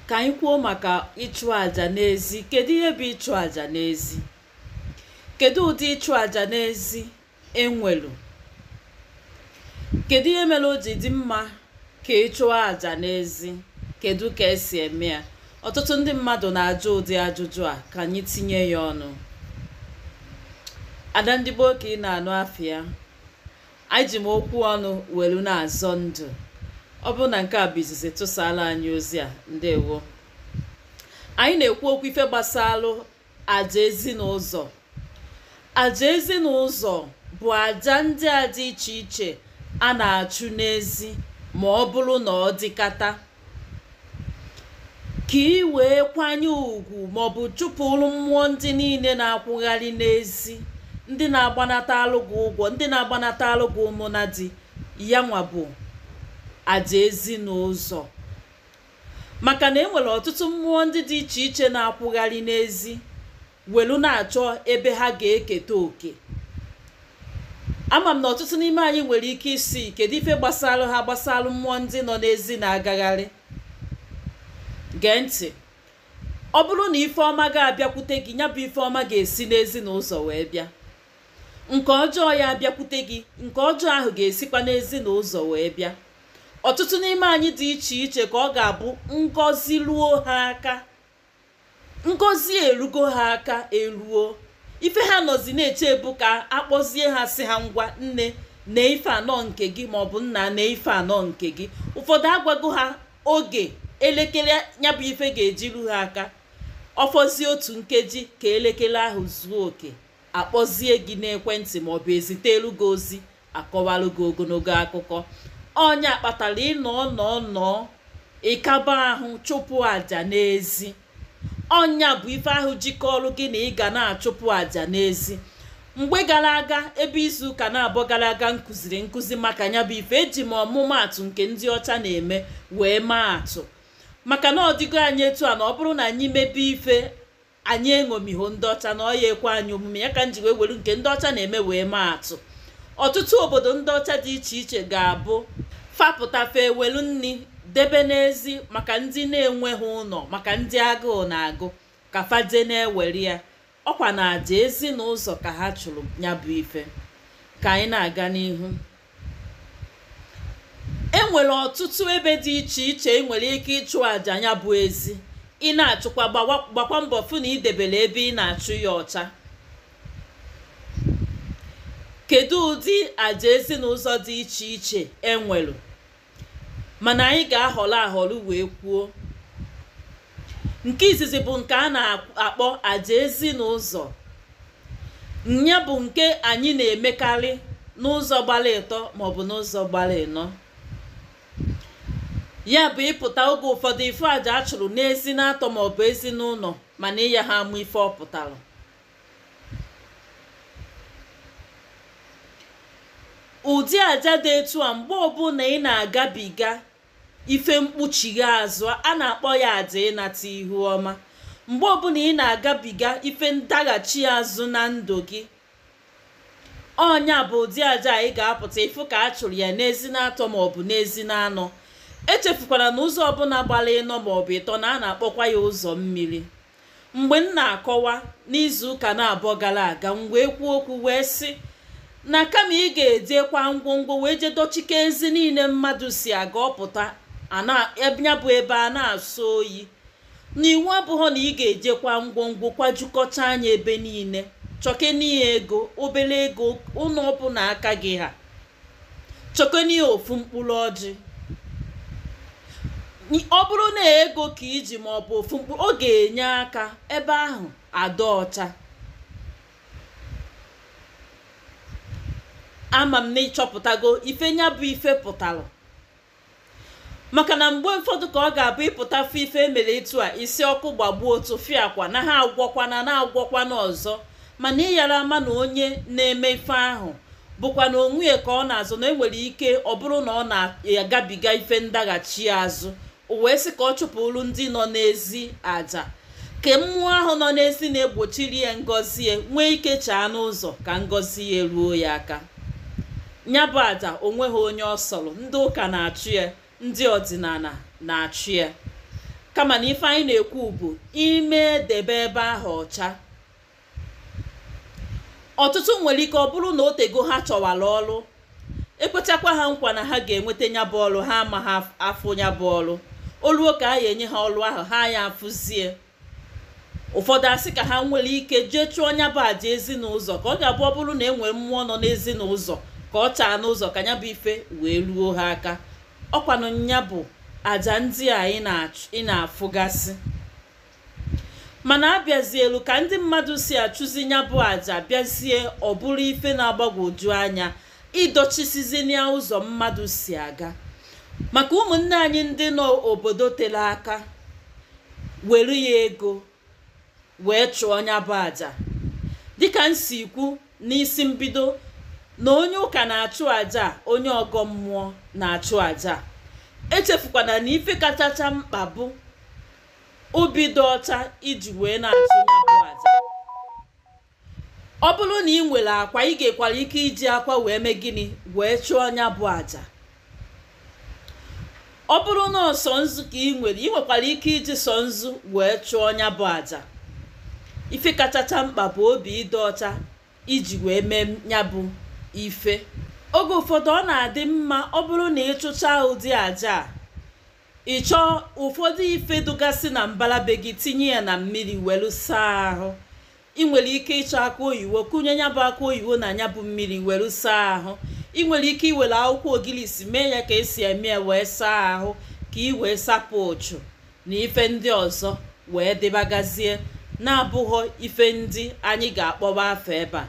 ka anyị kwuo maka ịchụ àjà n'ezi kedu ihe bụ ịchụ àjà n'ezi kedu ụdị ịchụ àjà n'ezi enwelu kedu ihe mere o ji dị mma ka ị chụọ àjà n'ezi kedu ka esi eme ya ọtụtụ ndị mmadụ na-ajụ ụdị ajụjụ a ka anyị tinye ya ọnụ ada ndị gboo ka ị na-anụ afịa anyị ji m okwu ọnụ welu na-azọ ndụ ọ bụrụ na nke a bụ izizi ị tụsala anya ozi a ndewo anyị na-ekwu okwu ife gbasalụ aja ezinụzọ aja ezinụzọ bụ aja ndị a dị iche iche a na-achụ n'ezi ma ọ bụrụ na ọ dịkata ka ị wee kwanye ugwu maọbụ chụpụrụ mmụọ ndị niile na-akwụgharị n'ezi ndị na-agbanata alụ gị ụgwọ ndị na-agbanata alụ gị ụmụ na di ya nwa bụ aja ezinụzọ maka na enwere ọtụtụ mmụọ ndị dị iche iche na-akwụgharị n'ezi welu na-achọ ebe ha ga-eketa oke ama m na ọtụtụ n'ime anyị nwere ike ịsị kedu ife gbasalụ ha gbasalụ mmụọ ndị nọ n'ezi na-agagharị gee ntị ọ bụrụ na ife ọma ga-abịakwute gị nya bụ ife ọma ga-esi n'ezi na ụzọ wee bịa nke ọjọọ ya-abịakwute gị nke ọjọọ ahụ ga-esikwa n'ezi na ụzọ wee bịa ọtụtụ n'ime anyị dị iche iche ka ọ ga-abụ ngọzi ruo ha aka ngọzi erugo ha aka eruo ife ha nọzi na-eche bụ ka akpọzie ha sị ha ngwa nne na ife a na ọ nke gị maọbụ nna na ife a na ọ nke gị ụfọdụ agwago ha oge elekere nya bụ ife ga-eji ru ha aka ọ fọzie otu nkeji ka elekere ahụ zuo oke akpọzie gị n'ekwentị maọbụ ezitelu gị ozi akọwalụ gị ogologo akụkọ ọ nya kpatara ị nọ nọ nọ ị kaba ahụ chụpụ aja n'ezi ọ nya bụ ife ahụ ji kọọrọ gị na ị ga na-achụpụ aja n'ezi mgbe gara aga ebe izu ụka naabọ gara aga m kụziri nkụzi maka nya bụ ife eji m ọmụmaatụ nke ndị ọcha na-eme wee maa atụ maka na ọ dịgo anyị etu a na ọ bụrụ na anyị mebe ife anyị eṅomiho ndị ọcha na ọ ya-ekwe anyị omume ya ka m ji wee were nke ndị ọcha na-eme wee maa atụ ọtụtụ obodo ndị ọcha dị iche iche ga-abụ fa pụta fa ewelu nni debe n'ezi maka ndị na-enweho ụnọ maka ndị agụụ na-agụ ka fa je na-ewere ya ọ kwa na aja ezinụzọ ka ha chụrụ nya bụ ife ka anyị na-aga n'ihu e nwere ọtụtụ ebe dị iche iche ị nwere ike ịchụ àjà nya bụ ezi ị na-achụkwa gbakwa mbọ fụ na i debere ebe ị na-achụ ya ọcha kedu ụdị àjà ezinụzọ dị iche iche enwere mana anyị ga-ahọrọ ahọrọ wee kwuo nke izizi bụ nke a na-akpọ aja ezinụzọ nya bụ nke anyị na-emekarị n'ụzọ gbara ịtọ maọbụ n'ụzọ gbara ịnọ ya bụ ị pụta oge ụfọdụ ị fụ aja a chụrụ n'ezi na-atọ maọbụ ezi na-anọ mana ị yaha ama ife ọ pụtara ụdị aja dị etu a mgbe ọbụla ị na-agabiga ife mkpuchighe azụ a na-akpọ ya aja ịnata ihu ọma mgbe ọbụla ị na-agabiga ife ndaghachi azụ na ndụ gị ọ nya bụ ụdị aja anyị ga-apụta ịfụ ka a chụrụ ya n'ezi na-atọ maọbụ n'ezi na-anọ echefukwara na ụzọ ọbụla gbara ịnọ maọbụ ịtọ na a na-akpọkwa ya ụzọ mmiri mgbe m na-akọwa n'izu ụka na-abụọ gara aga m wee kwuo okwu wee sị na kama ị ga-ejikwa ngwongwo wee jee dọchike ezi niile mmadụ si aga ọ pụta nya bụ ebe a na-asọ oyi na iwu abụghọ na ị ga-ejikwa ngwongwo kwajukọcha anya ebe niile chọkeni ego obere ego ụlọ ọbụla aka gị ha chọkeni ofu mkpụrụ ọjị ọ bụrụ na ego ka i ji ma ọ bụ ofu mkpụrụ ọ ga-enye aka ebe ahụ adị ọcha ama m na ị chọpụtago ife nya bụ ife pụtara maka na mgbe ụfọdụ ka ọ ga-abụ ị pụta fụ ife e mere etu a ị sị ọkụ gbagbuo tufịakwa na ha agwọkwana na-agwọkwana ọzọ mana ị yara ama na onye na-eme ife ahụ bụkwa na onwe ya ka ọ na-azọ na e nwere ike ọ bụrụ na ọ na-agabiga ife ndaghachi azụ o wee sị ka ọ chụpụrụ ndị nọ n'ezi aja ka mmụọ ahụ nọ n'ezi na-egbochiri ya ngọzi ya nwee ike chaa n'ụzọ ka ngọzi ya ruo ya aka nya bụ aja o nweghị onye ọ sọrọ ndị ụka na-achụ ya ndị ọdịnala na-achụ ya kama na ife anyị na-ekwu bụ ime debe ebe ahụ ọcha ọtụtụ nwere ike ọ bụrụ na o tego ha chọwara ọrụ e kwechakwa ha nkwa na ha ga-enweta nya bụ ọrụ ha amaha afụ nya bụ ọrụ o luo ka a ya enye ha ọrụ ahụ ha ya afụzie ụfọdụ asị ka ha nwere ike jee chụọ nya bụ aja ezinụzọ ka ọ ga-abụ ọ bụrụ na e nwee mmụọ nọ n'ezinụzọ ka ọ chaa n'ụzọ ka nya bụ ife wee ruo ha aka ọkwanụ nya bụ aja ndị a ị na-afụgasị mana abịazielu ka ndị mmadụ si achụzi nya bụ aja bịazie ọ bụrụ ife na-agbagwoju anya idochisizinia ụzọ mmadụ si aga maka ụmụnne anyị ndị nọ obodo tere aka were ya ego wee chụọ nya bụ aja dịka m si kwu n'isi mbido na onye ụka na-achụ aja onye ọgọ mmụọ na-achụ aja echefukwana na ife kachacha mkpa bụ obi dị ọcha iji wee na-achụ nya bụ aja ọ bụrụ na ị nwere akwa ị nwekwara ike iji akwa wee mee gịnị wee chụọ nya bụ aja ọ bụrụ na ọ sọ nzu ka ị nwere ị nwekwara ike iji sọ nzu wee chụọ nya bụ aja ife kachacha mkpa bụ obi ịdị ọcha iji wee mee nya bụ ife oge ụfọdụ ọ na-adị mma ọ bụrụ na ị chụcha ụdị aja a ị chọọ ụfọdụ ife dụgasị na mbala be gị tinye ya na mmiri welu saa ahụ ị nwere ike ịchọ akụ oyiwo kụnye nya bụ akụ oyiwo na nya bụ mmiri welu saa ahụ ị nwere ike iwere akwụkwọ ogilisi mee ya ka esi eme ya wee saa ahụ ka ị wee sapụ uchu na ife ndị ọzọ wee dịbagazie na-abụghọ ife ndị anyị ga-akpọba afa ebe a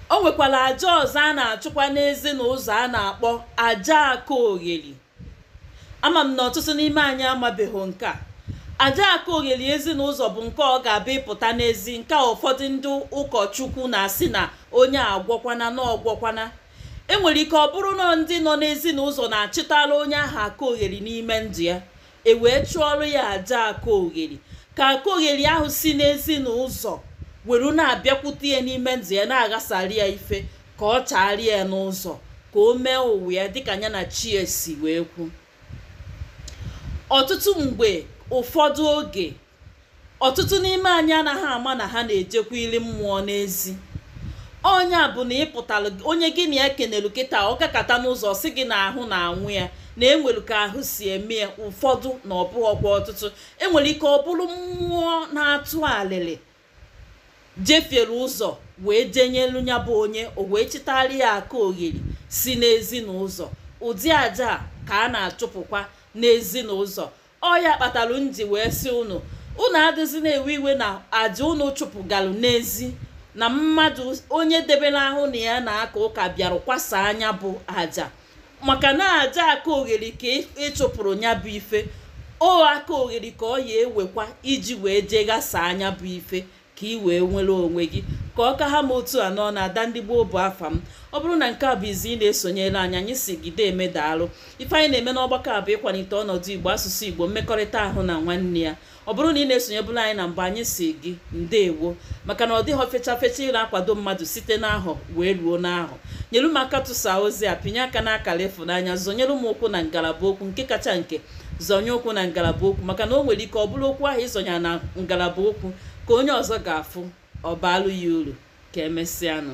o nwekwara aja ọzọ a na-achụkwa n'ezi na ụzọ a na-akpọ aja aka ogheri ama m na ọtụtụ n'ime anyị amabeghị nke a aja aka ogheri ezi na ụzọ bụ nke ọ ga-abụ ị pụta n'ezi nke a ụfọdụ ndị ụkọchukwu na-asị na onye agwọkwana na ọgwọkwana enwere ike ọ bụrụ na ndị nọ n'ezi na ụzọ na-achịtara onye ahụ aka ogheri n'ime ndụ ya e wee chụọrọ ya aja aka ogheri ka aka ogheri ahụ si n'ezi na ụzọ were na-abịakwute ya n'ime ndụ ya na-aghasara ya ife ka ọ chaara ya n'ụzọ ka o mee ụwa ya dịka nya na chi e si wee kwu ọtụtụ mgbe ụfọdụ oge ọtụtụ n'ime anyị anaghị ama na ha na-ejekwa ili mmụọ n'ezi ọ nya bụ na ị pụtara onye gị na ya kenelu kịta ọ gakata n'ụzọ sị gị na ahụ na-anwụ ya na enwere ka ahụ si eme ya ụfọdụ na ọ bụghọkwa ọtụtụ enwere ike ọ bụrụ mmụọ na-atụ alịlị jefiere ụzọ wee jenyelu nya bụ onye o wee chịtara ya aka ogheri si n'ezinụzọ ụdị aja a ka a na-achụpụkwa n'ezinụzọ ọ ya kpatalụ m ji wee sị unu unu adịzi na-ewe iwe na aja unu chụpụgalụ n'ezi na mmadụ onye debere ahụ na ya na-aka ụka bịara kwasaa nya bụ aja maka na aja aka ogheri ka ị- ị chụpụrụ nya bụ ife ọ aka ogheri ka ọ ya ewekwa iji wee jee ghasaa nya bụ ife ka ị wee nwere onwe gị ka ọ ka ha m otu a n'ọnụ ada ndị igbo bụ afa m ọ bụrụ na nke a bụ izi ị na-esonyere anyị anyị sị gị deeme daalụ ife anyị na-eme n'ọgbakọ a bụ ịkwalite ọnọdụ igbo asụsụ igbo mmekọrịta ahụ na nwanne ya ọ bụrụ na ị na-esonyebulu anyị na mbụ anyị sị gị ndeewo maka na ọ dịhọ fecha fecha ịna-akwado mmadụ site n'ahọ wee ruo n'ahọ nyelu m aka tụsa ozi a pịnye aka n'akara ịfụnanya zọnyere m ụkwụ na ngalaba okwu nke kacha nke zọnye ụkwụ na ngalaba okwu maka na o nwere ike ọ bụrụ okwu ahụ ị zọnyee na ngalaba okwu ka onye ọzọ ga-afụ ọ baalụ ya uru ka emesịanụ